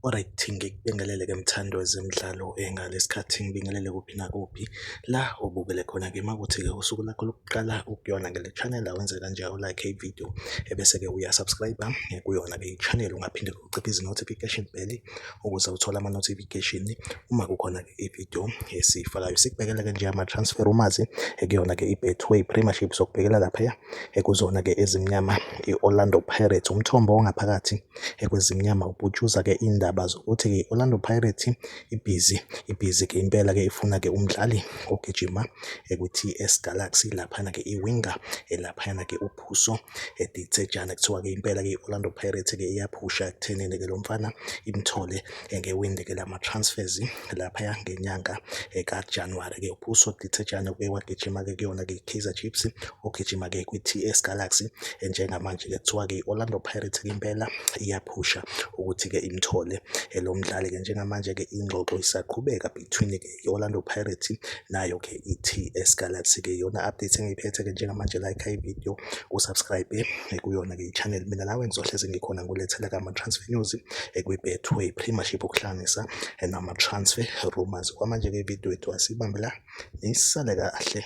Alright, ngikubingelele ke mthandi wezemidlalo eh, ngalesikhathi ngibingelele kuphi nakuphi la obukele khona ke makuthi ke usuku lakho lokuqala ukuyona ngale channel awenze kanjalo like video ebese-ke uyasubscribe eh, kuyona-ke i-channel ungaphinde uciphe izi-notification bell ukuze uthole ama-notification uma kukhona-ke i-video esiyifakayo sikubekela-ke nje ama-transfer umazi eh, kuyona-ke i-betway premiership sokubhekela laphaya eh, kuzona-ke ezimnyama i-orlando pirates umthombo ongaphakathi kwezimnyama uputshuza-ke indaba zokuthi-ke i-orlando pirates ibhizi ibhizi ke impela ke ifuna ke umdlali ogijima ekuthi S Galaxy laphana ke iwinger elaphana ke uphuso edithejana kuthiwa ke impela ke Orlando Pirates ke iyaphusha kuthenene ke lo mfana imthole ngewindi ke lama transfers lapha ngenyanga ka January ke uphuso dithejana ke wagijima ke kuyona ke Kaizer Chiefs ogijima ke kwi TS Galaxy njengamanje ke kuthiwa ke Orlando Pirates ke impela iya ukuphusha ukuthi-ke imthole lo mdlali-ke njengamanje-ke ingxoxo isaqhubeka between-ke i-Orlando Pirates nayo-ke i-TS Galaxy-ke iyona update engiyiphethe-ke njengamanje like ividiyo usubscribe kuyona-ke i-channel mina nawe ngizohlezi ngikhona ngulethela kama-transfer news kwi-betway premiership ukuhlanganisa nama-transfer rumors kwamanje-ke ividiyo yethu asibambe la nisale kahle